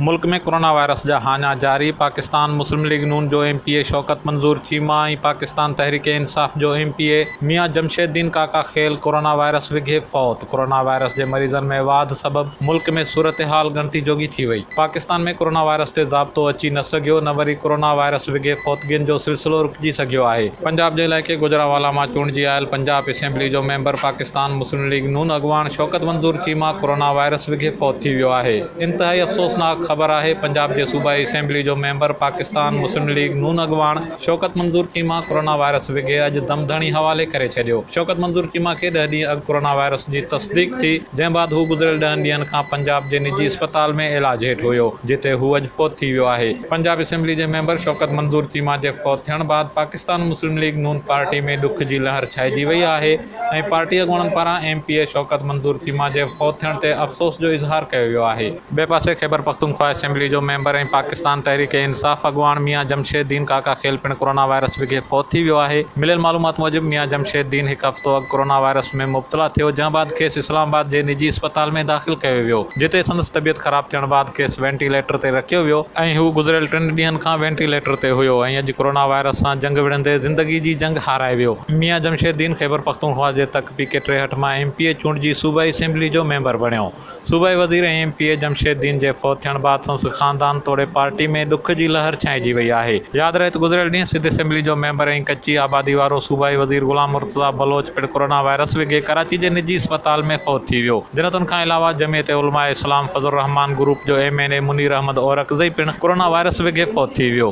ملڪ ۾ corona virus جا هاڃا جاري، پاڪستان مسلم ليگ نون جو M P A Shaukat Manzoor Cheema ۽ Pakistan Tehreek Insaf جو M P A Mian Jamshed Din Kaka Khel corona virus وگهي فوت، ڪورونا وائرس جي مريضن ۾ واڌ سبب ملڪ ۾ صورتحال ڳڻتي جوڳي ٿي وئي، پاڪستان ۾ ڪورونا وائرس تي ضابطو اچي نه سگهيو نه وري ڪورونا وائرس وگهي فوتگين جو سلسلو رڪجي سگهيو آهي. پنجاب جي علائقي گوجرانوالا مان چونڊجي آيل پنجاب اسيمبلي جو member Pakistan Muslim League Noon اڳواڻ شوڪت منظور چيما ڪورونا وائرس وگهي فوت ٿي ويو آهي. انتهائي افسوسناڪ خبر آهي پنجاب جي صوبائي اسيمبلي جو member Pakistan Muslim League Noon اڳواڻ شوڪت منظور چيما ڪورونا وائرس وگهي اڄ دم ڌڻي حوالي ڪري ڇڏيو شوڪت منظور چيما کي ڏهه ڏينهن اڳ ڪورونا وائرس جي تصديق ٿي جنهن بعد هو گذريل ڏهن ڏينهن کان پنجاب جي نجي اسپتال ۾ علاج هيٺ هيو جتي هو اڄ فوت ٿي ويو آهي پنجاب اسيمبلي جي ميمبر شوڪت منظور چيما جي فوت ٿيڻ بعد Pakistan Muslim League Noon party ۾ ڏک جي لهر ڇائجي وئي آهي. ۽ پارٽي اڳواڻن پاران M P A Shaukat Manzoor Cheema جي فوت ٿيڻ تي افسوس جو اظهار ڪيو ويو آهي. ٻئي پاسي خيبرپختونخوا اسيمبلي جو ميمبر ۽ پاڪستان تحريڪ انصاف اڳواڻ ميان جمشيد دين ڪاڪا خيل پڻ ڪورونا وائرس وگهي فوت ٿي ويو آهي. مليل معلومات موجب ميان جمشيد دين هڪ هفتو اڳ ڪورونا وائرس ۾ مبتلا ٿيو جنهن بعد کيس اسلام آباد جي نجي اسپتال ۾ داخل ڪيو ويو جتي سندس طبيعت خراب ٿيڻ بعد کيس وينٽي ليٽر تي رکيو ويو ۽ هو گذريل ٽن ڏينهن کان وينٽي ليٽر تي هيو ۽ اڄ ڪورونا وائرس سان جنگ وڙهندي زندگي جي جنگ هارائي ويو. ميان جمشيد الدين خيبرپختونخوا جي تڪ پي ڪي ٽيهٺ مان ايم پي اي چونڊجي صوبائي اسيمبلي جو ميمبر بڻيو. صوبائي وزير ۽ M P A Jamshed Uddin جي فوت ٿيڻ بعد سندس خاندان توڙي پارٽي ۾ ڏک جي لهر ڇانئجي وئي آهي. ياد رهي ته گذريل ڏينهن سڌ اسيمبلي جو ميمبر ۽ ڪچي آبادي وارو صوبائي وزير غلام مرتضيٰ بلوچ پڻ ڪورونا وائرس وگهي ڪراچي جي نجي اسپتال ۾ فوت ٿي ويو. جنتن کان علاوه جمعيت علماء اسلام فضل الرحمان گروپ جو M N A Munir Ahmed Orakzai پڻ ڪورونا وائرس وگهي فوت ٿي ويو.